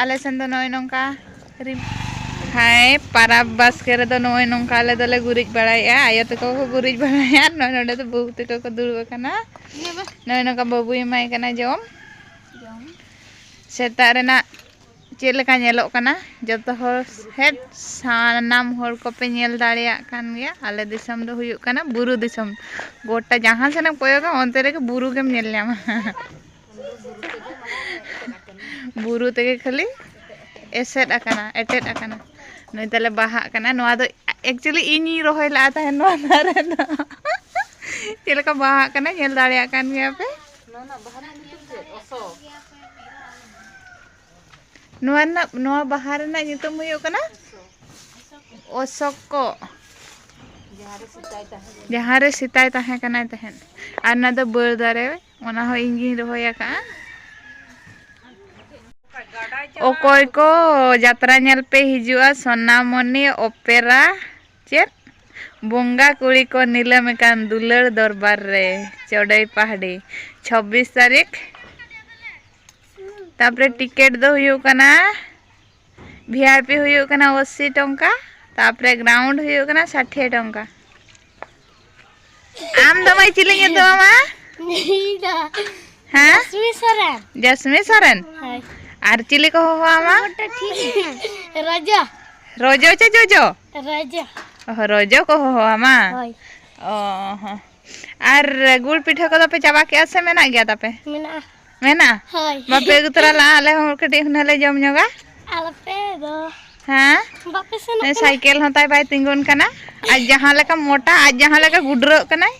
ᱟᱞᱮ ᱥᱮᱱ ᱫᱚ ᱱᱚᱜᱼᱚᱭ ᱱᱚᱝᱠᱟ ᱨᱤᱢ ᱦᱟᱭ ᱯᱟᱨᱟᱵᱽ ᱵᱟᱥᱠᱮ ᱨᱮᱫᱚ ᱱᱚᱜᱼᱚᱭ ᱱᱚᱝᱠᱟ ᱟᱞᱮ ᱫᱚᱞᱮ ᱜᱩᱨᱤᱡ ᱵᱟᱲᱟᱭᱮᱫᱼᱟ ᱟᱭᱳ ᱛᱟᱠᱚ ᱠᱚ ᱜᱩᱨᱤᱡ ᱵᱟᱲᱟᱭᱟ ᱱᱚᱜᱼᱚᱭ ᱱᱚᱰᱮ ᱫᱚ ᱵᱟᱹᱵᱩ ᱛᱟᱠᱚ ᱠᱚ ᱫᱩᱲᱩᱵ ᱟᱠᱟᱱᱟ ᱱᱚᱜᱼᱚᱭ ᱱᱚᱝᱠᱟ ᱵᱟᱹᱵᱩᱭ ᱮᱢᱟᱭ ᱠᱟᱱᱟ ᱡᱚᱢ ᱥᱮᱛᱟᱜ ᱨᱮᱱᱟᱜ ᱪᱮᱫ ᱞᱮᱠᱟ ᱧᱮᱞᱚᱜ ᱠᱟᱱᱟ ᱡᱚᱛᱚ ᱦᱚᱲ ᱦᱮᱡ ᱥᱟᱱᱟᱢ ᱦᱚᱲ ᱠᱚᱯᱮ ᱧᱮᱞ ᱫᱟᱲᱮᱭᱟᱜ ᱠᱟᱱ ᱜᱮᱭᱟ ᱟᱞᱮ ᱫᱤᱥᱚᱢ ᱫᱚ ᱦᱩᱭᱩᱜ ᱠᱟᱱᱟ ᱵᱩᱨᱩ ᱫᱤᱥᱚᱢ ᱜᱚᱴᱟ ᱡᱟᱦᱟᱸ ᱥᱮᱱᱮᱢ ᱠᱚᱭᱚᱜᱟ ᱚᱱᱛᱮ ᱨᱮᱜᱮ ᱵᱩᱨᱩ ᱜᱮᱢ ᱧᱮᱞ ᱧᱟᱢᱟ ᱵᱩᱨᱩ ᱛᱮᱜᱮ ᱠᱷᱟᱹᱞᱤ ᱮᱥᱮᱫ ᱟᱠᱟᱱᱟ ᱮᱴᱮᱫ ᱟᱠᱟᱱᱟ ᱱᱩᱭ ᱛᱟᱞᱮ ᱵᱟᱦᱟᱜ ᱠᱟᱱᱟ ᱱᱚᱣᱟ ᱫᱚ ᱮᱠᱪᱩᱭᱮᱞᱤ ᱤᱧᱤᱧ ᱨᱚᱦᱚᱭ ᱞᱟᱜᱼᱟ ᱛᱟᱦᱮᱸ ᱱᱚᱣᱟ ᱫᱟᱨᱮ ᱫᱚ ᱪᱮᱫ ᱞᱮᱠᱟ ᱵᱟᱦᱟᱜ ᱠᱟᱱᱟ ᱧᱮᱞ ᱫᱟᱲᱮᱭᱟᱜ ᱠᱟᱱ ᱜᱮᱭᱟ ᱯᱮ ᱱᱚᱣᱟ ᱨᱮᱱᱟᱜ ᱱᱚᱣᱟ ᱵᱟᱦᱟ ᱨᱮᱱᱟᱜ ᱧᱩᱛᱩᱢ ᱦᱩᱭᱩᱜ ᱠᱟᱱᱟ ᱚᱥᱚᱠᱚ ᱡᱟᱦᱟᱸ ᱨᱮ ᱥᱮᱛᱟᱭ ᱛᱟᱦᱮᱸ ᱠᱟᱱᱟᱭ ᱛᱟᱦᱮᱸᱫ ᱟᱨ ᱚᱱᱟ ᱫᱚ ᱵᱟᱹᱨ ᱫᱟᱨᱮ ᱚᱱᱟ ᱦᱚᱸ ᱤᱧ ᱜᱤᱧ ᱨᱚᱦᱚᱭ ᱟᱠᱟᱜᱼᱟ ᱚᱠᱚᱭ ᱠᱚ ᱡᱟᱛᱨᱟ ᱧᱮᱞ ᱯᱮ ᱦᱤᱡᱩᱜᱼᱟ ᱥᱚᱱᱟᱢᱚᱱᱤ ᱚᱯᱮᱨᱟ ᱪᱮᱫ ᱵᱚᱸᱜᱟ ᱠᱩᱲᱤ ᱠᱚ ᱱᱤᱞᱟᱹᱢ ᱟᱠᱟᱱ ᱫᱩᱞᱟᱹᱲ ᱫᱚᱨᱵᱟᱨ ᱨᱮ ᱪᱚᱰᱚᱭ ᱯᱟᱦᱟᱲᱤ ᱪᱷᱚᱵᱵᱤᱥ ᱛᱟᱹᱨᱤᱠᱷ ᱛᱟᱨᱯᱚᱨᱮ ᱴᱤᱠᱤᱴ ᱫᱚ ᱦᱩᱭᱩᱜ ᱠᱟᱱᱟ ᱵᱷᱤ ᱟᱭ ᱯᱤ ᱦᱩᱭᱩᱜ ᱠᱟᱱᱟ ᱚᱥᱤ ᱴᱚᱝᱠᱟ ᱛᱟᱯᱚᱨᱮ ᱜᱨᱟᱣᱩᱱᱰ ᱦᱩᱭᱩᱜ ᱠᱟᱱᱟ ᱥᱟᱴᱷᱮ ᱴᱚᱝᱠᱟ ᱟᱢ ᱫᱚ ᱢᱟᱹᱭ ᱪᱤᱞᱤ ᱧᱩᱛᱩᱢ ᱟᱢᱟᱜ ᱦᱮᱸ ᱡᱟᱥᱢᱤ ᱥᱚᱨᱮᱱ ᱡᱟᱥᱢᱤ ᱥᱚᱨᱮᱱ ᱟᱨ ᱪᱤᱞᱤ ᱠᱚ ᱦᱚᱦᱚ ᱟᱢᱟ ᱨᱚᱡᱚ ᱨᱚᱡᱚ ᱪᱮ ᱡᱚᱡᱚ ᱨᱚᱡᱚ ᱨᱚᱡᱚ ᱠᱚ ᱦᱚᱦᱚ ᱟᱢᱟ ᱦᱳᱭ ᱚ ᱦᱚᱸ ᱟᱨ ᱜᱩᱲ ᱯᱤᱴᱷᱟᱹ ᱠᱚᱫᱚ ᱯᱮ ᱪᱟᱵᱟ ᱠᱮᱜᱼᱟ ᱥᱮ ᱢᱮᱱᱟᱜ ᱜᱮᱭᱟ ᱛᱟᱯᱮ ᱢᱮᱱᱟᱜᱼᱟ ᱢᱮᱱᱟᱜᱼᱟ ᱦᱳᱭ ᱵᱟᱯᱮ ᱟᱹᱜᱩ ᱛᱚᱨᱟ ᱞᱟᱜᱼᱟ ᱟᱞᱮ ᱦᱚᱸ ᱠᱟᱹᱴᱤᱡ ᱦᱩᱱᱟᱹ ᱞᱮ ᱡᱚᱢ ᱧᱚᱜᱟ ᱟᱞᱚᱯᱮ ᱫᱚ ᱦᱮᱸ ᱵᱟᱯᱮ ᱥᱮᱱᱚᱜ ᱠᱟᱱᱟ ᱥᱟᱭᱠᱮᱞ ᱦᱚᱸ ᱛᱟᱭ ᱵᱟᱭ ᱛᱤᱸᱜᱩᱱ ᱠᱟᱱᱟ ᱟᱡ ᱡᱟᱦᱟᱸ ᱞᱮᱠᱟ ᱢᱚᱴᱟ ᱟᱡ ᱡᱟᱦᱟᱸ ᱞᱮᱠᱟ ᱜᱩᱰᱨᱟᱹᱜ ᱠᱟᱱᱟᱭ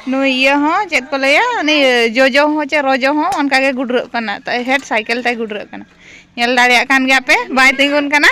ᱱᱩᱭ ᱤᱭᱟᱹ ᱦᱚᱸ ᱪᱮᱫ ᱠᱚ ᱞᱟᱹᱭᱟ ᱩᱱᱤ ᱡᱚᱡᱚ ᱦᱚᱸ ᱪᱮ ᱨᱚᱡᱚ ᱦᱚᱸ ᱚᱱᱠᱟ ᱜᱮ ᱜᱩᱰᱨᱟᱹᱜ ᱠᱟᱱᱟ ᱛᱟᱭ ᱦᱮᱰ ᱥᱟᱭᱠᱮᱞ ᱛᱟᱭ ᱜᱩᱰᱨᱟᱹᱜ ᱠᱟᱱᱟ ᱧᱮᱞ ᱫᱟᱲᱮᱭᱟᱜ ᱠᱟᱱ ᱜᱮᱭᱟ ᱯᱮ ᱵᱟᱭ ᱛᱤᱸᱜᱩᱱ ᱠᱟᱱᱟ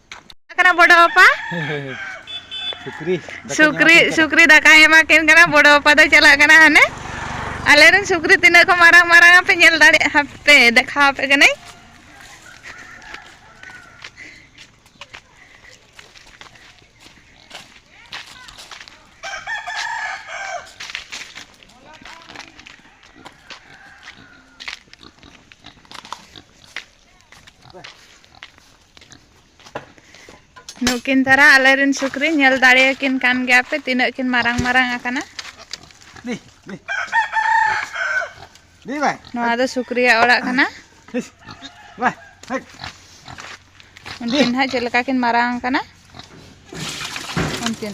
ᱠᱟᱱᱟ ᱵᱚᱰᱚ ᱵᱟᱯᱟ ᱥᱩᱠᱨᱤ ᱥᱩᱠᱨᱤ ᱥᱩᱠᱨᱤ ᱫᱟᱠᱟ ᱮᱢᱟ ᱠᱤᱱ ᱠᱟᱱᱟ ᱵᱚᱰᱚ ᱵᱟᱯᱟ ᱫᱚ ᱪᱟᱞᱟᱜ ᱠᱟᱱᱟ ᱦᱟᱱᱮ ᱟᱞᱮ ᱨᱮᱱ ᱥᱩᱠᱨᱤ ᱛᱤᱱᱟᱹᱜ ᱠᱚ ᱢᱟᱨᱟᱝ ᱢᱟᱨᱟᱝ ᱟᱯᱮ ᱧᱮᱞ ᱫᱟᱲᱮ ᱦᱟᱯᱮ ᱫᱮᱠᱷᱟᱣ ᱟᱯᱮ ᱠᱟᱹᱱᱟᱹᱧ ᱱᱩᱠᱤᱱ ᱫᱷᱟᱨᱟ ᱟᱞᱮ ᱨᱮᱱ ᱥᱩᱠᱨᱤ ᱧᱮᱞ ᱫᱟᱲᱮᱭᱟᱠᱤᱱ ᱠᱟᱱ ᱜᱮᱭᱟ ᱯᱮ ᱛᱤᱱᱟᱹᱜ ᱠᱤᱱ ᱢᱟᱨᱟᱝ ᱢᱟᱨᱟᱝ ᱟᱠᱟᱱᱟ ᱱᱚᱣᱟ ᱫᱚ ᱥᱩᱠᱨᱤᱭᱟᱜ ᱚᱲᱟᱜ ᱠᱟᱱᱟ ᱩᱱᱠᱤᱱ ᱦᱟᱸᱜ ᱪᱮᱫ ᱞᱮᱠᱟ ᱠᱤᱱ ᱢᱟᱨᱟᱝ ᱟᱠᱟᱱᱟ ᱩᱱᱠᱤᱱ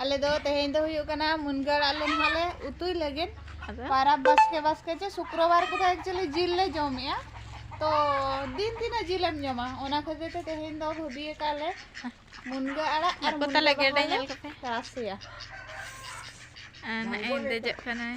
ᱟᱞᱮ ᱫᱚ ᱛᱮᱦᱮᱧ ᱫᱚ ᱦᱩᱭᱩᱜ ᱠᱟᱱᱟ ᱢᱩᱱᱜᱟᱹ ᱟᱲᱟᱜ ᱞᱮ ᱱᱟᱦᱟᱜᱞᱮ ᱩᱛᱩᱭ ᱞᱟᱹᱜᱤᱫ ᱯᱟᱨᱟᱵᱽ ᱵᱟᱥᱠᱮ ᱵᱟᱥᱠᱮ ᱪᱮ ᱥᱩᱠᱨᱚᱵᱟᱨ ᱠᱚᱫᱚ ᱮᱠᱪᱩᱭᱮᱞᱤ ᱡᱤᱞ ᱞᱮ ᱡᱚᱢᱮᱜᱼᱟ ᱛᱚ ᱫᱤᱱ ᱛᱤᱱᱟᱹᱜ ᱡᱤᱞᱮᱢ ᱡᱚᱢᱟ ᱚᱱᱟ ᱠᱷᱟᱹᱛᱤᱨ ᱛᱮ ᱛᱮᱦᱮᱧ ᱫᱚ ᱵᱷᱟᱹᱵᱤ ᱟᱠᱟᱫ ᱞᱮ ᱢᱩᱱᱜᱟᱹ ᱟᱲᱟᱜ ᱟᱨ ᱢᱩᱱᱜᱟᱹ ᱵᱟᱦᱟ ᱞᱮ ᱨᱟᱥᱮᱭᱟ ᱟᱨ ᱱᱟᱜᱼᱮ ᱫᱮᱡᱚᱜ ᱠᱟᱱᱟᱭ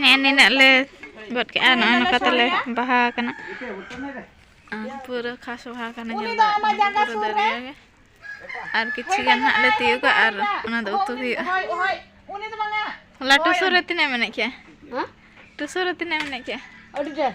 ᱱᱮᱜᱼᱮ ᱱᱤᱱᱟᱹᱜ ᱞᱮ ᱜᱚᱫ ᱠᱮᱜᱼᱟ ᱱᱚᱜᱼᱚᱭ ᱱᱚᱝᱠᱟ ᱛᱮᱞᱮ ᱵᱟᱦᱟ ᱟᱠᱟᱱᱟ ᱯᱩᱨᱟᱹ ᱠᱷᱟᱥ ᱵᱟᱦᱟ ᱟᱠᱟᱱᱟ ᱧᱮᱞ ᱫᱟᱲᱮᱭᱟᱜ ᱯᱩᱨᱟᱹ ᱫᱟᱨᱮ ᱜᱮ ᱟᱨ ᱠᱤᱪᱷᱩ ᱜᱟᱱ ᱦᱟᱸᱜ ᱞᱮ ᱛᱤᱭᱳᱜᱟ ᱟᱨ ᱚᱱᱟ ᱫᱚ ᱩᱛᱩ ᱦᱩᱭᱩᱜᱼᱟ ᱦᱚᱞᱟ ᱴᱩᱥᱩ ᱨᱮ ᱛᱤᱱᱟᱹᱜ ᱢᱮᱱᱮᱫ ᱠᱮᱜᱼᱟ ᱴᱩᱥᱩ ᱨᱮ ᱛᱤᱱᱟᱹᱜ ᱢᱮᱱᱮᱫ ᱠᱮᱜᱼᱟ ᱟᱹᱰᱤ ᱰᱷᱮᱨ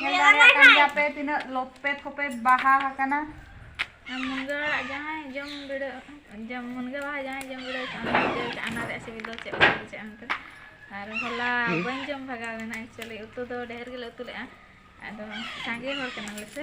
ᱧᱮᱞ ᱫᱟᱲᱮᱭᱟᱜ ᱠᱟᱱ ᱜᱮᱭᱟ ᱯᱮ ᱛᱤᱱᱟᱹᱜ ᱞᱚᱯᱮ ᱛᱷᱚᱯᱮ ᱵᱟᱦᱟ ᱟᱠᱟᱱᱟ ᱢᱩᱱᱜᱟᱹ ᱟᱲᱟᱜ ᱡᱟᱦᱟᱸᱭ ᱡᱚᱢ ᱵᱤᱲᱟᱹ ᱡᱚᱢ ᱢᱩᱱᱜᱟᱹ ᱵᱟᱦᱟ ᱡᱟᱦᱟᱸᱭ ᱡᱚᱢ ᱵᱤᱲᱟᱹ ᱚᱱᱟ ᱨᱮᱭᱟᱜ ᱥᱤᱵᱤᱞ ᱫᱚ ᱪᱮᱫ ᱞᱮᱠᱟ ᱵᱩᱡᱷᱟᱹᱜᱼᱟ ᱢᱮᱱᱛᱮ ᱟᱨ ᱦᱚᱞᱟ ᱵᱟᱹᱧ ᱡᱚᱢ ᱵᱷᱟᱜᱟᱣ ᱞᱮᱱᱟ ᱮᱠᱪᱩᱭᱮᱞᱤ ᱩᱛᱩ ᱫᱚ ᱰᱷᱮᱨ ᱜᱮᱞᱮ ᱩᱛᱩ ᱞᱮᱫᱼᱟ ᱟᱫᱚ ᱥᱟᱸᱜᱮ ᱦᱚᱲ ᱠᱟᱱᱟᱞᱮ ᱥᱮ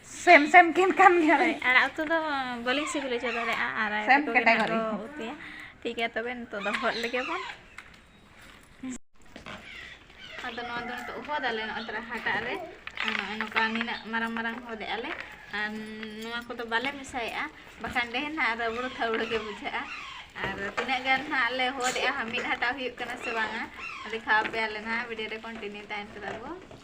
ᱥᱮᱢ ᱥᱮᱢ ᱠᱤᱱ ᱠᱟᱱ ᱜᱮᱭᱟ ᱦᱳᱭ ᱟᱲᱟᱜ ᱩᱛᱩ ᱫᱚ ᱵᱟᱹᱞᱤᱧ ᱥᱤᱵᱤᱞ ᱦᱚᱪᱚ ᱫᱟᱲᱮᱭᱟᱜᱼᱟ ᱟᱨ ᱟᱭᱳ ᱥᱮᱢ ᱛᱟᱠᱚ ᱜᱮ ᱱᱟᱦᱟᱜ ᱠᱮᱴᱟᱜᱚᱨᱤ ᱠᱚ ᱩᱛᱩᱭᱟ ᱴᱷᱤᱠ ᱜᱮᱭᱟ ᱛᱚᱵᱮ ᱱᱤᱛᱚᱜ ᱫᱚ ᱦᱚᱫ ᱞᱮᱜᱮ ᱵᱚᱱ ᱟᱫᱚ ᱱᱚᱣᱟ ᱫᱚ ᱱᱤᱛᱚᱜ ᱦᱚᱫ ᱟᱞᱮ ᱱᱚᱜᱼᱚᱭ ᱛᱚᱨᱟ ᱦᱟᱴᱟᱜ ᱨᱮ ᱟᱨ ᱱᱚᱜᱼᱚᱭ ᱱᱚᱝᱠᱟ ᱱᱤᱱᱟᱹᱜ ᱢᱟᱨᱟᱝ ᱢᱟᱨᱟᱝ ᱦᱚᱫ ᱮᱜᱼᱟ ᱞᱮ ᱟᱨ ᱱᱚᱣᱟ ᱠᱚᱫᱚ ᱵᱟᱞᱮ ᱢᱮᱥᱟᱭᱮᱜᱼᱟ ᱵᱟᱠᱷᱟᱱ ᱰᱷᱮᱨ ᱱᱟᱦᱟᱜ ᱨᱟᱹᱵᱲᱟᱹ ᱛᱷᱟᱹᱵᱲᱟᱹ ᱜᱮ ᱵᱩᱡᱷᱟᱹᱜᱼᱟ ᱟᱨ ᱛᱤᱱᱟᱹᱜ ᱜᱟᱱ ᱱᱟᱦᱟᱜ ᱞᱮ ᱦᱚᱫ ᱮᱜᱼᱟ ᱢᱤᱫ ᱦᱟᱴᱟᱜ ᱦᱩᱭᱩᱜ ᱠᱟᱱᱟ ᱥᱮ ᱵᱟᱝᱟ ᱫᱮᱠᱷᱟᱣ ᱟᱯᱮᱭᱟᱞᱮ ᱱᱟᱦᱟᱜ ᱵᱷᱤᱰᱤᱭᱳ ᱨᱮ ᱠᱚᱱᱴᱤᱱᱤᱭᱩ ᱛᱟᱦᱮᱱ ᱯᱮ ᱛᱟᱵᱚ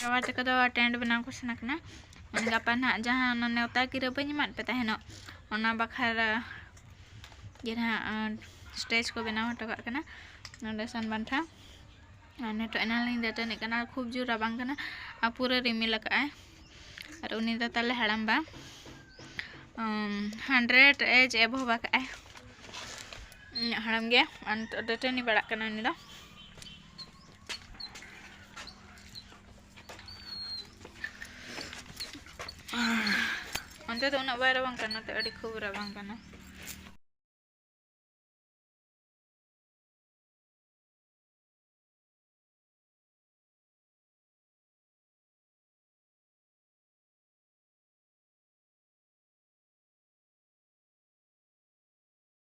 ᱵᱟᱵᱟ ᱛᱟᱠᱚ ᱫᱚ ᱴᱮᱱᱴ ᱵᱮᱱᱟᱣ ᱠᱚ ᱥᱮᱱ ᱟᱠᱟᱱᱟ ᱢᱟᱱᱮ ᱜᱟᱯᱟ ᱱᱟᱦᱟᱜ ᱡᱟᱦᱟᱸ ᱚᱱᱟ ᱱᱮᱣᱛᱟ ᱜᱤᱨᱟᱹ ᱵᱟᱹᱧ ᱮᱢᱟᱫ ᱯᱮ ᱛᱟᱦᱮᱱᱚᱜ ᱚᱱᱟ ᱵᱟᱠᱷᱨᱟ ᱜᱮ ᱱᱟᱦᱟᱜ ᱥᱴᱮᱡᱽ ᱠᱚ ᱵᱮᱱᱟᱣ ᱦᱚᱴᱚ ᱠᱟᱜ ᱠᱟᱱᱟ ᱱᱚᱰᱮ ᱥᱟᱱ ᱵᱟᱱᱴᱷᱟ ᱟᱨ ᱱᱤᱛᱚᱜ ᱮᱱᱟᱝ ᱞᱤᱧ ᱫᱟᱹᱛᱟᱹᱱᱤᱜ ᱠᱟᱱᱟ ᱠᱷᱩᱵ ᱡᱳᱨ ᱨᱟᱵᱟᱝ ᱠᱟᱱᱟ ᱟᱨ ᱯᱩᱨᱟᱹ ᱨᱤᱢᱤᱞ ᱟᱠᱟᱫ ᱟᱭ ᱟᱨ ᱩᱱᱤ ᱫᱚ ᱛᱟᱞᱮ ᱦᱟᱲᱟᱢ ᱵᱟ ᱦᱟᱱᱰᱨᱮᱰ ᱮᱡᱽ ᱮᱵᱷᱚᱵ ᱟᱠᱟᱫ ᱟᱭ ᱤᱧᱟᱹᱜ ᱦᱟᱲᱟᱢ ᱜᱮ ᱟᱨ ᱱᱤᱛᱚᱜ ᱫᱟᱹᱛᱟᱹᱱᱤ ᱵᱟᱲᱟᱜ ᱠᱟᱱᱟ ᱩᱱᱤ ᱫᱚ ᱚᱱᱛᱮ ᱫᱚ ᱩᱱᱟᱹᱜ ᱵᱟᱭ ᱨᱟᱵᱟᱝ ᱠᱟᱱᱟ ᱱᱚᱛᱮ ᱟᱹᱰᱤ ᱠᱷᱩᱵ ᱨᱟᱵᱟᱝ ᱠᱟᱱᱟ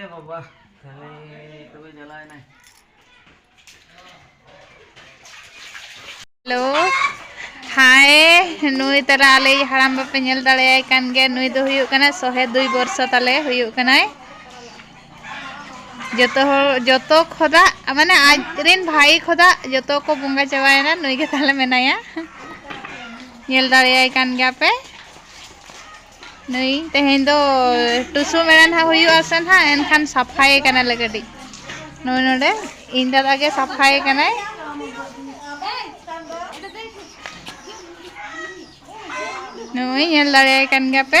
ᱮ ᱵᱟᱵᱟ ᱛᱟᱦᱞᱮ ᱛᱚᱵᱮ ᱡᱟᱞᱟᱣ ᱮᱱᱟᱭ ᱦᱮᱞᱳ ᱦᱟᱭ ᱱᱩᱭ ᱛᱟᱨᱟ ᱟᱞᱮᱭᱤᱡ ᱦᱟᱲᱟᱢ ᱵᱟᱯᱮ ᱧᱮᱞ ᱫᱟᱲᱮᱭᱟᱭ ᱠᱟᱱ ᱜᱮᱭᱟ ᱱᱩᱭ ᱫᱚ ᱦᱩᱭᱩᱜ ᱠᱟᱱᱟᱭ ᱥᱚᱦᱮ ᱫᱩᱭ ᱵᱚᱨᱥᱚ ᱛᱟᱞᱮ ᱦᱩᱭᱩᱜ ᱠᱟᱱᱟᱭ ᱡᱚᱛᱚ ᱦᱚᱲ ᱡᱚᱛᱚ ᱠᱷᱚᱫᱟ ᱢᱟᱱᱮ ᱟᱡ ᱨᱮᱱ ᱵᱷᱟᱭ ᱠᱷᱚᱫᱟ ᱡᱚᱛᱚ ᱠᱚ ᱵᱚᱸᱜᱟ ᱪᱟᱵᱟᱭᱮᱱᱟ ᱱᱩᱭ ᱜᱮ ᱛᱟᱦᱞᱮ ᱢᱮᱱᱟᱭᱟ ᱧᱮᱞ ᱫᱟᱲᱮᱭᱟᱭ ᱠᱟᱱ ᱜᱮᱭᱟ ᱯᱮ ᱱᱩᱭ ᱛᱮᱦᱮᱧ ᱫᱚ ᱴᱩᱥᱩ ᱢᱮᱲᱟ ᱱᱟᱦᱟᱜ ᱦᱩᱭᱩᱜᱼᱟ ᱥᱮ ᱱᱟᱦᱟᱜ ᱮᱱᱠᱷᱟᱱ ᱥᱟᱯᱷᱟᱭ ᱠᱟᱱᱟᱞᱮ ᱠᱟᱹᱴᱤᱡ ᱱᱩᱭ ᱱᱚᱰᱮ ᱤᱧ ᱫᱟᱫᱟ ᱜᱮ ᱥᱟᱯᱷᱟᱭ ᱠᱟᱱᱟᱭ ᱱᱩᱭ ᱧᱮᱞ ᱫᱟᱲᱮᱭᱟᱭ ᱠᱟᱱ ᱜᱮᱭᱟ ᱯᱮ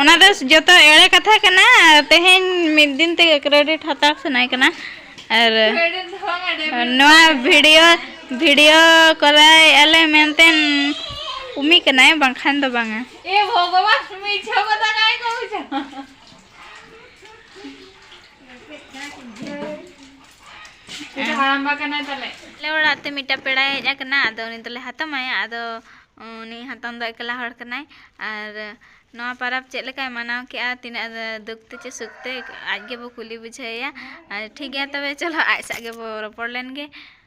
ᱚᱱᱟ ᱫᱚ ᱡᱚᱛᱚ ᱮᱲᱮ ᱠᱟᱛᱷᱟ ᱠᱟᱱᱟ ᱛᱮᱦᱮᱧ ᱢᱤᱫ ᱫᱤᱱ ᱛᱮᱜᱮ ᱠᱨᱮᱰᱤᱴ ᱦᱟᱛᱟᱣ ᱥᱟᱱᱟᱭ ᱠᱟᱱᱟ ᱟᱨ ᱱᱚᱣᱟ ᱵᱷᱤᱰᱤᱭᱳ ᱵᱷᱤᱰᱤᱭᱳ ᱠᱚᱨᱟᱭ ᱟᱞᱮ ᱢᱮᱱᱛᱮ ᱩᱢᱤ ᱠᱟᱱᱟᱭ ᱵᱟᱝᱠᱷᱟᱱ ᱫᱚ ᱵᱟᱝᱟ ᱮ ᱵᱷᱚᱜᱚᱵᱟᱱ ᱢᱤᱪᱷᱟ ᱠᱟᱛᱷᱟ ᱠᱟᱭ ᱠᱚ ᱵᱩᱡᱷᱟᱹᱣ ᱟᱞᱮ ᱚᱲᱟᱜ ᱛᱮ ᱢᱤᱫᱴᱟᱝ ᱯᱮᱲᱟᱭ ᱦᱮᱡ ᱟᱠᱟᱱᱟ ᱟᱫᱚ ᱩᱱᱤ ᱫᱚᱞᱮ ᱦᱟᱛᱟᱢᱟᱭᱟ ᱟᱫᱚ ᱩᱱᱤ ᱦᱟᱛᱟᱢ ᱫᱚ ᱮᱠᱞᱟ ᱦᱚᱲ ᱠᱟᱱᱟᱭ ᱟᱨ ᱱᱚᱣᱟ ᱯᱟᱨᱟᱵᱽ ᱪᱮᱫ ᱞᱮᱠᱟᱭ ᱢᱟᱱᱟᱣ ᱠᱮᱜᱼᱟ ᱛᱤᱱᱟᱹᱜ ᱫᱩᱠ ᱛᱮ ᱪᱮ ᱥᱩᱠ ᱛᱮ ᱟᱡ ᱜᱮᱵᱚ ᱠᱩᱞᱤ ᱵᱩᱡᱷᱟᱹᱣᱮᱭᱟ ᱟᱨ ᱴᱷᱤᱠ ᱜᱮᱭᱟ ᱛᱚᱵᱮ ᱪᱚᱞᱚ ᱟᱡ ᱥᱟᱶ ᱜᱮᱵᱚ ᱨᱚᱯᱚᱲ ᱞᱮᱱ ᱜᱮ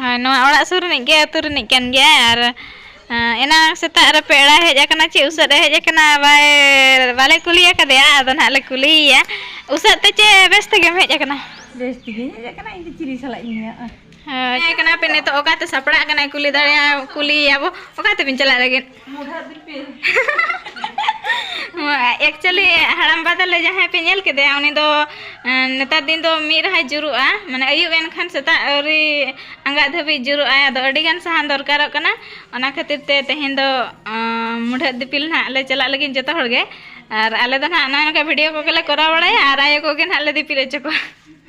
ᱦᱳᱭ ᱱᱚᱣᱟ ᱚᱲᱟᱜ ᱥᱩᱨ ᱨᱤᱱᱤᱡ ᱜᱮ ᱟᱹᱛᱩ ᱨᱤᱱᱤᱡ ᱠᱟᱱ ᱜᱮᱭᱟᱭ ᱟᱨ ᱮᱱᱟᱝ ᱥᱮᱛᱟᱜ ᱨᱮ ᱯᱮᱲᱟᱭ ᱦᱮᱡ ᱟᱠᱟᱱᱟ ᱪᱮᱫ ᱩᱥᱟᱹᱫ ᱮ ᱦᱮᱡ ᱟᱠᱟᱱᱟ ᱵᱟᱭ ᱵᱟᱞᱮ ᱠᱩᱞᱤ ᱟᱠᱟᱫᱮᱭᱟ ᱟᱫᱚ ᱱᱟᱦᱟᱜ ᱞᱮ ᱠᱩᱞᱤᱭᱮᱭᱟ ᱩᱥᱟᱹᱫ ᱛᱮ ᱪᱮ ᱵᱮᱥ ᱛᱮᱜᱮᱢ ᱦᱮᱡ ᱟᱠᱟᱱᱟ ᱵᱮᱥ ᱛᱮᱜᱮᱧ ᱦᱮᱡ ᱟᱠᱟᱱᱟ ᱤᱧ ᱫᱚ ᱪᱤᱞᱤ ᱥᱟᱞᱟᱜ ᱤᱧ ᱞᱟᱹᱭᱟ ᱦᱳᱭ ᱦᱮᱡ ᱠᱟᱱᱟ ᱯᱮ ᱱᱤᱛᱚᱜ ᱚᱠᱟᱛᱮ ᱥᱟᱯᱲᱟᱜ ᱠᱟᱱᱟᱭ ᱠᱩᱞᱤ ᱫᱟᱲᱮᱭᱟᱜᱼᱟ ᱠᱩᱞᱤᱭᱮᱭᱟ ᱵᱚ ᱚᱠᱟ ᱛᱮᱵᱤᱱ ᱪᱟᱞᱟᱜ ᱞᱟᱹᱜᱤᱫ ᱢᱩᱰᱷᱟᱹ ᱫᱤᱯᱤᱞ ᱮᱠᱪᱩᱭᱮᱞᱤ ᱦᱟᱲᱟᱢ ᱵᱟ ᱛᱟᱞᱮ ᱡᱟᱦᱟᱸᱭ ᱯᱮ ᱧᱮᱞ ᱠᱮᱫᱮᱭᱟ ᱩᱱᱤ ᱫᱚ ᱱᱮᱛᱟᱨ ᱫᱤᱱ ᱫᱚ ᱢᱤᱫ ᱨᱟᱦᱟᱭ ᱡᱩᱨᱩᱜᱼᱟ ᱢᱟᱱᱮ ᱟᱹᱭᱩᱵ ᱮᱱᱠᱷᱟᱱ ᱥᱮᱛᱟᱜ ᱟᱹᱣᱨᱤ ᱟᱸᱜᱟᱜ ᱫᱷᱟᱹᱵᱤᱡ ᱡᱩᱨᱩᱜ ᱟᱭ ᱟᱫᱚ ᱟᱹᱰᱤ ᱜᱟᱱ ᱥᱟᱦᱟᱱ ᱫᱚᱨᱠᱟᱨᱚᱜ ᱠᱟᱱᱟ ᱚᱱᱟ ᱠᱷᱟᱹᱛᱤᱨ ᱛᱮ ᱛᱮᱦᱮᱧ ᱫᱚ ᱢᱩᱰᱷᱟᱹ ᱫᱤᱯᱤᱞ ᱱᱟᱦᱟᱜ ᱞᱮ ᱪᱟᱞᱟᱜ ᱞᱟᱹᱜᱤᱫ ᱡᱚᱛᱚ ᱦᱚᱲ ᱜᱮ ᱟᱨ ᱟᱞᱮ ᱫᱚ ᱱᱟᱦᱟᱜ ᱱᱚᱜᱼᱚᱭ ᱱᱚᱝᱠᱟ ᱵᱷᱤᱰᱤᱭᱳ ᱠᱚᱜᱮ ᱞᱮ ᱠᱚᱨᱟᱣ ᱵᱟᱲᱟᱭᱟ ᱟᱨ ᱟᱭᱳ ᱠᱚᱜᱮ ᱱᱟᱦᱟᱜ ᱞᱮ ᱫᱤᱯᱤᱞ ᱦᱚᱪᱚ ᱠᱚᱣᱟ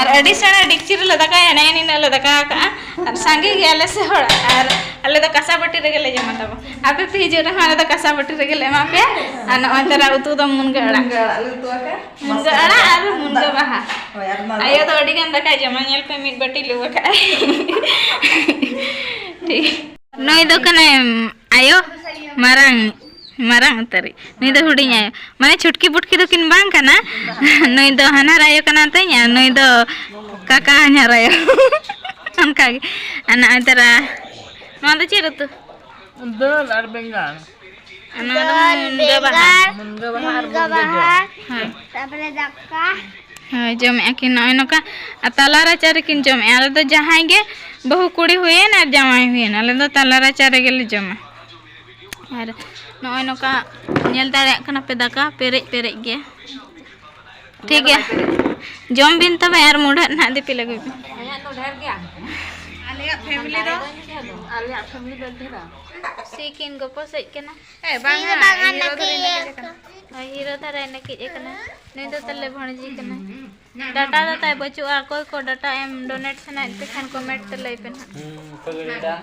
ᱟᱨ ᱟᱹᱰᱤ ᱥᱮᱬᱟ ᱰᱤᱠᱪᱤ ᱨᱮᱞᱮ ᱫᱟᱠᱟᱭᱟ ᱱᱮᱜᱼᱮ ᱱᱤᱱᱟᱹᱜ ᱞᱮ ᱫᱟᱠᱟ ᱟᱠᱟᱜᱼᱟ ᱟᱨ ᱥᱟᱸᱜᱮ ᱜᱮᱭᱟᱞᱮ ᱥᱮ ᱦᱚᱲ ᱟᱨ ᱟᱞᱮ ᱫᱚ ᱠᱟᱥᱟ ᱵᱟᱹᱴᱤ ᱨᱮᱜᱮ ᱞᱮ ᱡᱚᱢᱟ ᱛᱟᱵᱚ ᱟᱯᱮ ᱯᱮ ᱦᱤᱡᱩᱜ ᱨᱮᱦᱚᱸ ᱟᱞᱮ ᱫᱚ ᱠᱟᱥᱟ ᱵᱟᱹᱴᱤ ᱨᱮᱜᱮ ᱞᱮ ᱮᱢᱟ ᱯᱮᱭᱟ ᱟᱨ ᱱᱚᱜᱼᱚᱭ ᱛᱟᱨᱟ ᱩᱛᱩ ᱫᱚ ᱢᱩᱱᱜᱟᱹ ᱟᱲᱟᱜ ᱢᱩᱱᱜᱟᱹ ᱟᱲᱟᱜ ᱟᱨ ᱢᱩᱱᱜᱟᱹ ᱵᱟᱦᱟ ᱟᱭᱳ ᱫᱚ ᱟᱹᱰᱤ ᱜᱟᱱ ᱫᱟᱠᱟᱭ ᱡᱚᱢᱟ ᱧᱮᱞ ᱯᱮ ᱢᱤᱫ ᱵᱟᱹᱴᱤ ᱞᱩ ᱟᱠᱟᱜᱼᱟᱭ ᱴᱷᱤᱠ ᱱᱩᱭ ᱫᱚ ᱠᱟᱱᱟᱭ ᱟᱭᱳ ᱢᱟᱨᱟᱝ ᱢᱟᱨᱟᱝ ᱩᱛᱟᱹᱨᱤ ᱱᱩᱭ ᱫᱚ ᱦᱩᱰᱤᱧ ᱟᱭᱳ ᱢᱟᱱᱮ ᱪᱷᱩᱴᱠᱤ ᱯᱩᱴᱠᱤ ᱫᱚ ᱠᱤᱱ ᱵᱟᱝ ᱠᱟᱱᱟ ᱱᱩᱭ ᱫᱚ ᱦᱟᱱᱦᱟᱨ ᱟᱭᱳ ᱠᱟᱱᱟ ᱛᱤᱧ ᱟᱨ ᱱᱩᱭ ᱫᱚ ᱠᱟᱠᱟ ᱦᱟᱱᱦᱟᱨ ᱟᱭᱳ ᱚᱱᱠᱟᱜᱮ ᱟᱨ ᱱᱚᱜᱼᱚᱭ ᱛᱚᱨᱟ ᱱᱚᱣᱟ ᱫᱚ ᱪᱮᱫ ᱩᱛᱩ ᱫᱟᱹᱞ ᱟᱨ ᱵᱮᱸᱜᱟᱲ ᱦᱳᱭ ᱡᱚᱢᱮᱫᱼᱟ ᱠᱤᱱ ᱱᱚᱜᱼᱚᱭ ᱱᱚᱝᱠᱟ ᱟᱨ ᱛᱟᱞᱟ ᱨᱟᱪᱟ ᱨᱮᱠᱤᱱ ᱡᱚᱢᱮᱫᱼᱟ ᱟᱞᱮ ᱫᱚ ᱡᱟᱦᱟᱸᱭ ᱜᱮ ᱵᱟᱹᱦᱩ ᱠᱩᱲᱤ ᱦᱩᱭᱮᱱ ᱟᱨ ᱡᱟᱶᱟᱭ ᱦᱩᱭᱮᱱ ᱟᱞᱮ ᱫᱚ ᱛᱟᱞᱟ ᱨᱟᱪᱟ ᱨᱮᱜᱮᱞᱮ ᱡᱚᱢᱟ ᱟᱨ ᱱᱚᱜᱼᱚᱭ ᱱᱚᱝᱠᱟ ᱧᱮᱞ ᱫᱟᱲᱮᱭᱟᱜ ᱠᱟᱱᱟ ᱯᱮ ᱫᱟᱠᱟ ᱯᱮᱨᱮᱡ ᱯᱮᱨᱮᱡ ᱜᱮ ᱴᱷᱤᱠ ᱜᱮᱭᱟ ᱡᱚᱢ ᱵᱤᱱ ᱛᱚᱵᱮ ᱟᱨ ᱢᱩᱰᱷᱟᱹᱜ ᱱᱟᱦᱟᱜ ᱫᱤᱯᱤᱞ ᱟᱹᱜᱩᱭ ᱵᱤᱱ ᱥᱤᱠᱤᱱ ᱜᱚᱯᱚ ᱥᱮᱡ ᱠᱟᱱᱟ ᱮ ᱵᱟᱝ ᱦᱤᱨᱚ ᱫᱷᱟᱨᱮ ᱱᱮᱠᱮᱡ ᱠᱟᱱᱟ ᱦᱳᱭ ᱦᱤᱨᱚ ᱫᱷᱟᱨᱮ ᱱᱮᱠᱮᱡ ᱠᱟᱱᱟ ᱱᱩᱭ ᱫᱚ ᱛᱟᱞᱮ ᱵᱷᱚᱬᱡᱤ ᱠᱟᱱᱟ ᱰᱟᱴᱟ ᱫᱚ ᱛᱟᱭ ᱵᱟᱹᱪᱩᱜᱼᱟ ᱚᱠᱚᱭ ᱠᱚ ᱰᱟᱴᱟ ᱮᱢ ᱰᱚᱱᱮᱴ ᱥᱟᱱᱟᱭᱮᱫ ᱯᱮ ᱠᱷᱟᱱ ᱠᱚᱢᱮᱱᱴ ᱛᱮ ᱞᱟᱹᱭ ᱯᱮ ᱱᱟᱦᱟᱜ